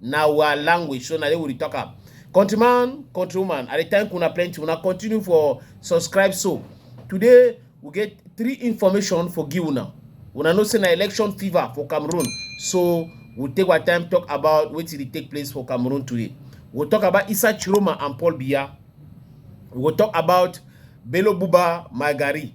na our language so na there we dey talk am countryman countrywoman i dey thank una plenty una continue for subscribe so today we get three information for give una una know say na election fever for cameroon so we take our time talk about wetin dey take place for cameroon today we talk about isa chiroma and paul biya we go talk about bello buba magari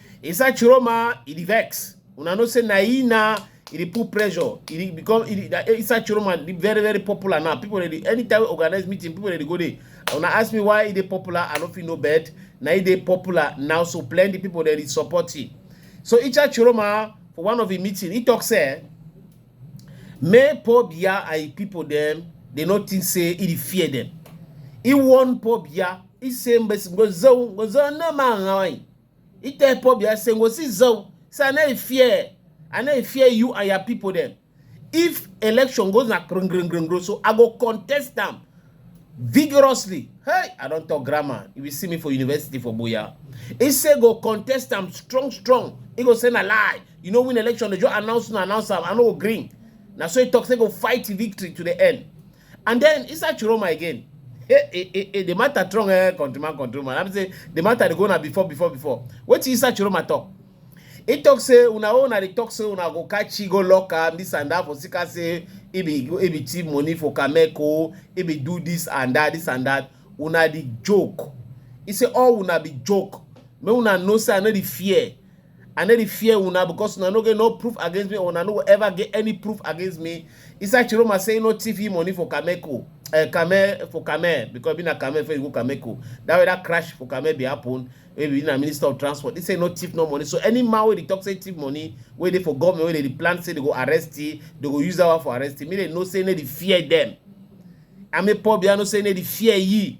Inside Chiroma, it e vex. Una know say Naina, it e put pressure. It e become it, eh, inside Chiroma, it very very popular now. People ready anytime we organize meeting, people ready go there. Una ask me why it popular. I don't feel no bad. Now it popular now, so plenty people ready support it. So Icha Chiroma for one of the meeting, he talks say, "Me poor bia and people them, they not think say it fear them. He warn poor bia. He say, "But go zone, go zone no man." He tell Pobia say go see Zoe. Say I no fear. I no fear you and your people them. If election goes na grung grung grung grung, so I go contest them vigorously. Hey, I don't talk grammar. You will see me for university for Boya. He say go contest them strong, strong. He go say na lie. You know win election, they just announce and announce them. I know green. Now so he talk say go fight victory to the end. And then inside Chiroma again, eh, eh, eh, eh, the matter strong, eh, countryman, countryman. I'm saying the matter they go now before, before, before. What is inside Chiroma talk? He talk say una own and he talk say una go catch he go lock am this and that for sika say he be he be thief money for Kameko, he be do this and that, this and that. Una the joke. He say all una be joke. Make una know say I no the fear. I no dey fear una because una no get no proof against me or una no go ever get any proof against me. Isa Chiroma say no thief him money for Kameko, uh, Kame for Kame because be na Kame for you go Kameko. That way that crash for Kame be happen. Maybe na Minister of Transport. He say no thief no money. So any man wey dey talk say thief money, wey dey for government, wey dey dey plan say they go arrest him, they go use that one for arrest him. Me dey know say no dey fear them. Ame Paul Biano say no dey fear ye.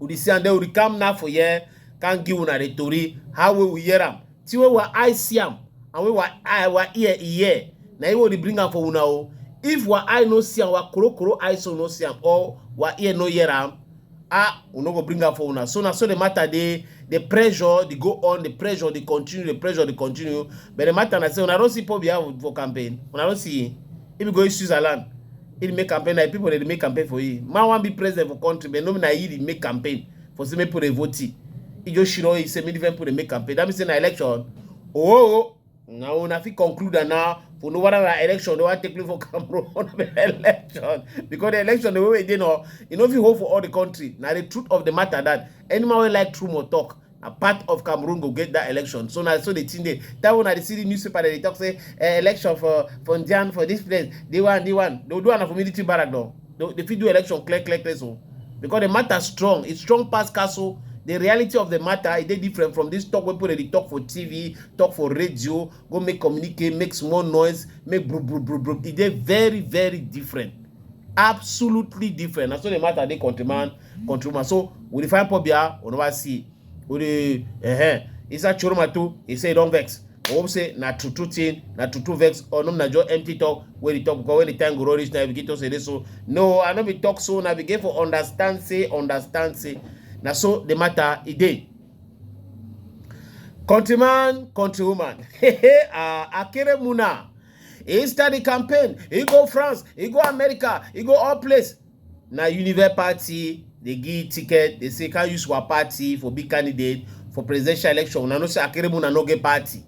Udi see and then udi come now for here, can give una the tori, how we we hear am. See where our eye see am, and where our eye, our ear e hear. Na him we dey bring am for una o. If our eye no see am, our koro koro eye so no see am, or our ear no hear am, ah, we no go bring am for una. So na so the matter dey, the pressure dey go on, the pressure dey continue, the pressure dey continue. But the matter na say una don see Paul Biya for campaign, una don see him. If you go use Switzerland, He dey make campaign like people dey make campaign for him. Man wan be president for country, but no be na he dey make campaign for say make people dey vote him. He just shiro he say make different people dey make campaign. That means say na election. Oh, na una fit conclude am now for no whether na election dey wan take place for Cameroon or na election because the election the way wey e dey now, e no fit hold for all the country. Na the truth of the matter that any man wey like true must talk. na part of cameroon go get that election so na so the thing dey that one i dey see the newspaper dey talk say eh, election for for njan for this place the one the one they do am for military barrack though they, they fit do election clear clear clear so because the matter strong it's strong pass castle the reality of the matter is they different from this talk wey people dey talk for tv talk for radio go make communicate make small noise make bro bro bro bro e dey very very different absolutely different na so the matter dey countryman control ma so we dey find pobia we never see we dey eh inside choroma too he say he don vex i hope say na true true thing na true true vex or no na just empty talk wey dey talk because when the time go run reach na begin talk say dey so no i no be talk so na begin for understand say understand say na so the matter e dey. Countryman, countrywoman, uh, Akere Muna, he start the campaign, he go France, he go America, he go all place. na unive party dey give ticket dey say can use our party for big candidate for presidential election una know say akeremu na no get party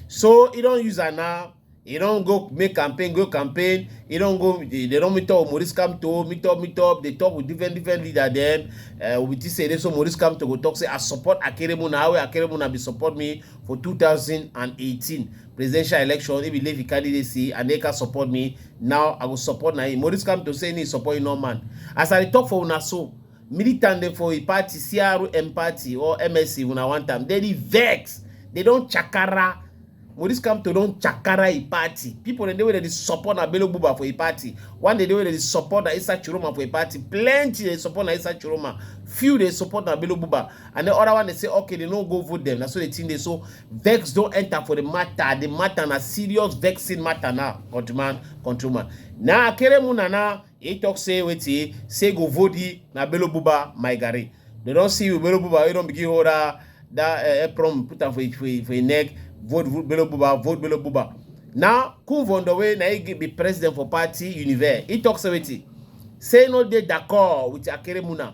so e don use am now e don go make campaign go campaign e don go they don meet up with maurice kamto meet up meet up dey talk with different different leader dem uh, we think say they so maurice kamto go talk say i support akeremu na how akeremu na be support me for 2018 presidential election if leave candidacy and they can support me now i will support na him maurice come to say he support you no man as i talk for una so militant dem for a party crm party or msc una one time they dey vex they don chakara maurice come to don chakara a party people dem dey wey dey support na bello buba for a party one day dey wey dey support na isa chiroma for a party plenty dey support na isa chiroma few dey support na bello buba and the other one dey say okay they no go vote them na so the thing dey so vex don enter for the matter the matter na serious vexing matter now countryman countryman na akeremu na na he talk say wetin say go vodi na bello buba my garri they don see you bello buba wey don begin hold that that uh, apron put am for him for him for him neck vote vote bello buba vote bello buba now kunvondo wey na he gi- be president for party univer he talk say wetin say no dey d'accord with akeremu na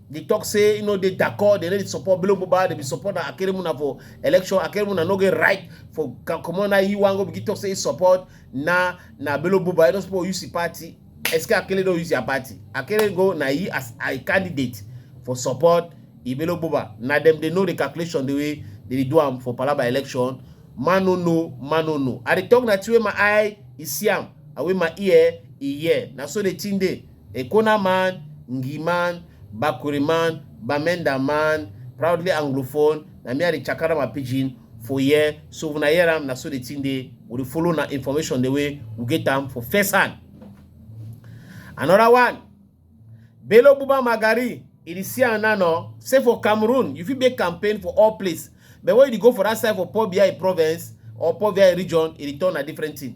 dey talk say e no dey dako dem no dey support bello mobile dem be support na akeremuna for election akeremuna no get right for comot na he wan go begin talk say he support na na bello mobile he no support use him party eske akele don use their party akele go na he as a candidate for support ibelo mobile na dem dey know the calculation the way they dey do am for palaba election man no know man no know i dey talk na the way my eye e see am and wey my ear e hear na so the thing dey Ekona man, Ngi man, Bakuri man, Bamenda man, proudly anglophone, na me I dey chakara my pidgin for here so una hear am na so the thing dey we dey follow na information the way we get am for first hand. Another one, Bello Buba Magari, e dey see am now no, say for Cameroon you fit make campaign for all place but when you dey go for that side for Poor BI province or Poor BI region e dey turn na different thing.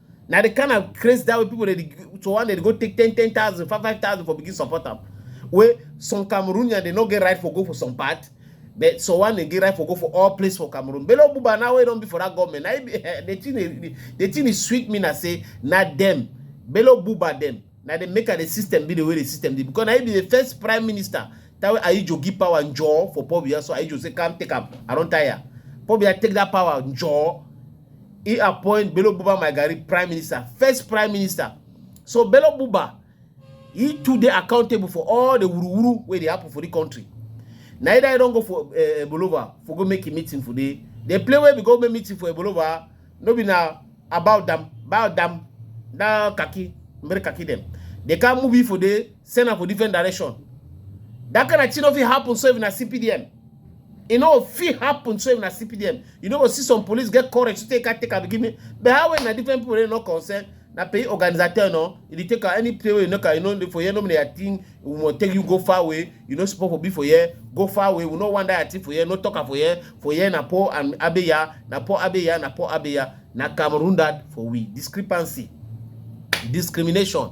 na the kind of craze that way people dey to one dey go take ten ten thousand five five thousand for begin support am wey some cameroonian dey no get right for go for some part but so one dey get right for go for all place for cameroon bello buba now wey don be for that government na the thing dey the thing dey sweet me na say na dem bello buba dem na dem make am the system be the way the system dey because na him be the first prime minister that way ayijo give power njaw for paul biya so ayijo say come take am i don tire paul biya take that power njaw He appoint Bello Buba Maigari prime minister, first prime minister. So Bello Buba, he too dey accountable for all the wuru-wuru wey dey happen for the country. Neither I don't go for uh, eh, Ebolova for go make a meeting for the the play where we go make meeting for Ebolova. No be now about them, about them. Now kaki, mere kaki them. They can't move it for the send for different direction. That kind of thing of it happen so even a CPDM. e no fit happen so if na cpdm you no go see some police get courage to take take am give me but how when na different people wey no concern na pay organisateur no you dey take am any play wey you no can you no dey for here no be your thing we wan take you go far away you no suppose for be for here go far away we no wan that thing for here no talk am for here for here na poor and abeya na poor abeya na poor abeya na cameroon that for we discrepancy discrimination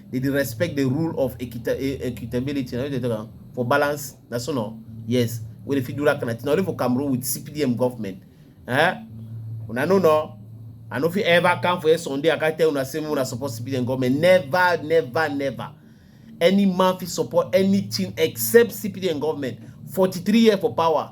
they dey respect the rule of equita e, equitability na they talk am for balance na so no yes wey dey fit do that kind of thing only for cameroon with cpdm government eh una no no i no fit ever come for a sunday i can tell una say una support cpdm government never never never any man fit support anything except cpdm government 43 years for power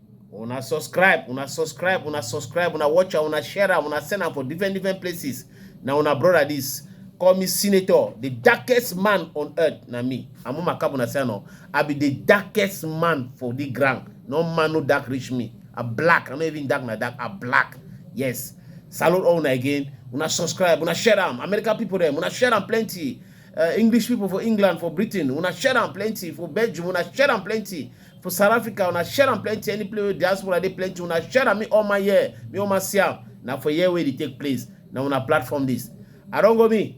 una subscribe una subscribe una subscribe una watch am una share am una send am for different different places na una brother this call me senator the darkest man on earth na me amuma kabuna say no i be the darkest man for the ground no man no dark reach me i black i no even dark na dark i black yes salute all una again una subscribe una share am american people dem una share am plenty uh, english people for england for britain una share am plenty for belgium una share am plenty for south africa una share am plenty any place wey diaspora dey plenty una share am me all my year me all my see am na for here wey dey take place na una platform this i don go me.